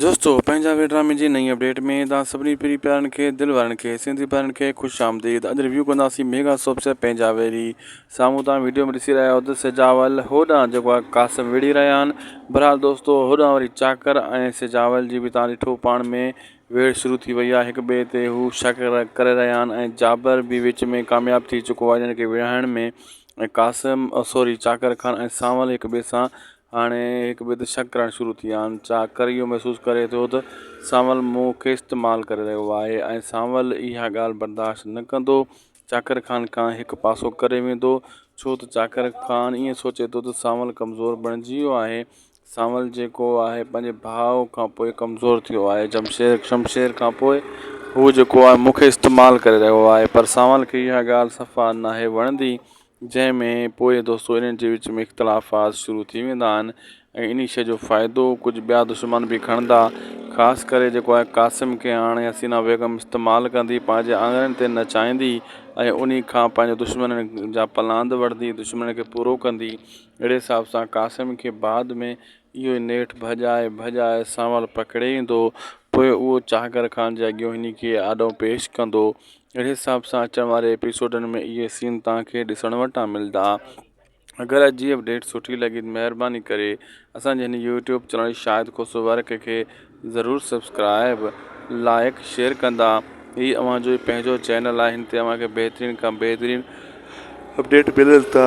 دوستو پنهنجا وي ڊرامي جي نئين اپڊيٽ ۾ توهان سڀني پري پيارن کي دل وارن کي سنڌي ڀائرن کي خوش آمديد اڄ ريويو ڪنداسين ميگا سوپس يا پنهنجا وي ري سامهون توهان ويڊيو ۾ ڏسي رهيا آهيو ته سجاول هوڏانهن جيڪو آهي قاسم وڙهي رهيا آهن بھرحال دوستو هوڏانهن وري چاڪر ۽ سجاول جي به توهان ڏٺو پاڻ ۾ ويڙهه شروع ٿي وئي آهي هڪ ٻئي تي هو شڪ ڪري رهيا آهن ۽ جابر به وچ ۾ ڪامياب ٿي چڪو آهي هن کي وڙهائڻ ۾ ۽ قاسم سوري چاڪر خان ۽ سانول هڪ ٻئي سان هاڻي هڪ ٻئي تي شڪ ڪرڻ شروع ٿي ويا آهن. چاڪر اهو محسوس ڪري ٿو ته سانول مون کي استعمال ڪري رهيو آهي ۽ سانول اها ڳالهه برداشت نه ڪندو. چاڪر خان کان هڪ پاسو ڪري ويندو. ڇو ته چاڪر خان ائين سوچي ٿو ته سانول ڪمزور بڻجي ويو آهي. سانول جيڪو آهي پنهنجي ڀاء کان پوء ڪمزور ٿيو آهي. شمشير کان پوء هو جيڪو آهي مون کي استعمال ڪري رهيو آهي. پر سانول کي اها ڳالهه صفا ناهي وڻندي. جنهن ۾ پوء دوستو انهن جي وچ ۾ اختلافات شروع ٿي ويندا آهن ۽ انهي شيء جو فائدو ڪجهه ٻيا دشمن به کڻندا خاص ڪري جيڪو آهي قاسم کي هاڻي حسينه بيگم استعمال ڪندي پنهنجي آڱرين تي نچائيندي ۽ انهي کان پنهنجي دشمنن جا پلاند وٺندي دشمنن کي پورو ڪندي اهڙي حساب سان قاسم کي بعد ۾ اهو ئي نيٺ ڀڄائي ڀڄائي سانول پڪڙي ايندو. پوء اهو چاهگر خان جي اڳيون هن کي آڏو پيش ڪندو. اهڙي حساب سان اچڻ واري ايپيسوڊن ۾ اهي سين توهان کي ڏسڻ وٽان ملدا. اگر اڄ جي اپڊيٽ سٺي لڳي ته مهرباني ڪري اسان جي هن YouTube channel Shahid Khoso work کي ضرور سبسڪرائيب، لائيڪ، شيئر ڪندا. هي اوهان جو ئي پنهنجو چينل آهي هن تي اوهان کي بهترين کان بهترين اپڊيٽ ملن ٿا.